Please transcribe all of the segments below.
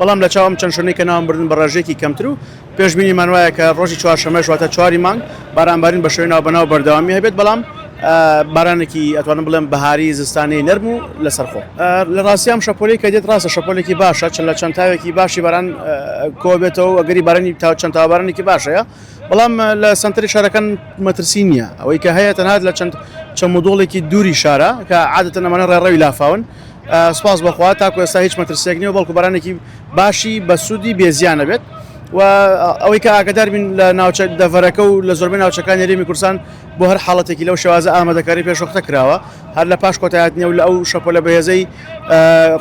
بەڵام لە چاو ئەم چەند شوێنەی کە ناوم بردن بە ڕێژەیەکی کەمتر و پێشبینیمان وایە کە ڕۆژی چوارشەممەش واتە چواری مانگ بارانبارین بە شێوەی ناوبەناو بەردەوامی هەبێت بەڵام بارانێکی ئەتوانم بڵێم بەهاری زستانی نەرم و لەسەرخۆ لە ڕاستیام شەپۆلی کە دێت ڕاستە شەپۆلێکی باشە چەند لە چەند تاوێکی باشی باران کۆبێتەوە ئەگەری بارانی تا چەند تاوابارانێکی باشەیە بەڵام لە سنتری شارەکان مەترسی نییە ئەوەی کە هەیە تەنات لە چەند چەمودۆڵێکی دووری شارە کە عادەتەنەمانە ڕێڕەوی لافاون سوپاس بۆ خوا تاکو ئێستا هیچ مەترسیەک نیە بەڵکو بەرانێکی باشی بەسوودی بێزیانە بێت و ئەوەی کە ئاگدار بین لە ناوچە دەڤەرەکە و لە زۆربەی ناوچەکانی ریمی کورسان بۆ هەر حاڵەتێکی لەو شێوازە ئامادەکاری پێشوەختە کراوە هەر لە پاش کۆتایات نیە و لە ئەو شەپۆ لە بەهێزەی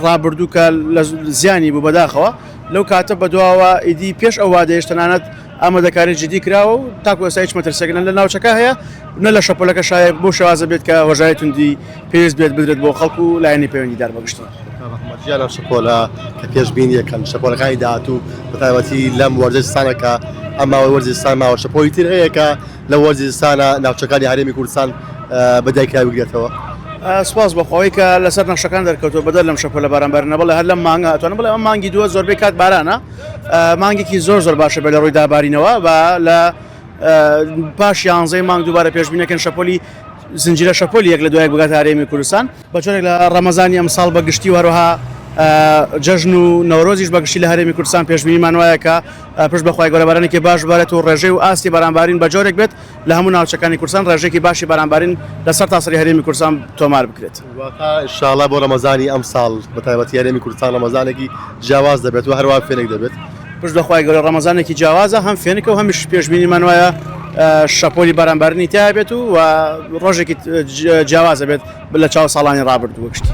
ڕابردووکە لە زیانی بوو بەداخەوە لەو کاتە بەدواوە ئیدی پێش ئەو وادەیەش تەنانەت ئامادەکاری جدی کراوە و تاکو ئێستا هیچ مەترسێک نە لە ناوچەکە هەیە و نە لە شەپۆلەکە شایە بەو شێوازە بێت کە هۆشداری توندی پێویست بێت بدرێت بۆ خەڵک و لایەنی پەیوەندیدار بە گشتی. کاک محەمەد گیان ئەم شەپۆلە کە پێشبینییەکەن شەپۆلەکانی داهاتوو بە تایبەتی لەم وەرزەی زستانە کە ئەم ماوەی وەرزی زستان ماوە شەپۆلی تر هەیە کە لە وەرزی زستانە ناوچەکانی هەرێمی کوردستان بە دایکرا بگرێتەوە؟ سپاس بۆ خۆی کە لەسەر نەخشەکان دەرکەوتووە بەدەر لەم شەپۆلە بارانبارینە بەڵێ هەر لەم مانگە ئەتوانم بڵێم ئەم مانگی دووە زۆربەی کات بارانە مانگێکی زۆر زۆر باشە بێ لە ڕووی دابارینەوە با لە پاش یانزەی مانگ دووبارە پێشبینەکەن شەپۆلی زنجیرە شەپۆلی یەک لە دوایەک بگات هەرێمی کوردستان بە جۆرێک لە ڕەمەزانی ئەمساڵ بە گشتی و هەروەها جەژن و نەورۆزیش بەگشتی لە هەرێمی کوردستان پێشبینیمان وایە کە پشت بەخوای گەورە بارانێکی باش بارێت و ڕێژەی و ئاستی بەرانبارین بە جۆرێک بێت لە هەموو ناوچەکانی کوردستان ڕێژەیەکی باشی بارانبارین لە سەرتاسەری هەرێمی کوردستان تۆمار بکرێت. واتە ان شاء اللە بۆ ڕەمەزانی ئەمساڵ بە تایبەتی هەرێمی کوردستان ڕەمەزانێکی جیاواز دەبێت و هەروەها فێنک دەبێت. پشت بە خوای گەورە ڕەمەزانێکی جیاوازە هەم فێنکە و هەمیش پێشبینیمان وایە شەپۆلی بارانبارنی تیا بێت و ڕۆژێکی جیاوازە بێت لە چاو ساڵانی ڕابردوو گشتی.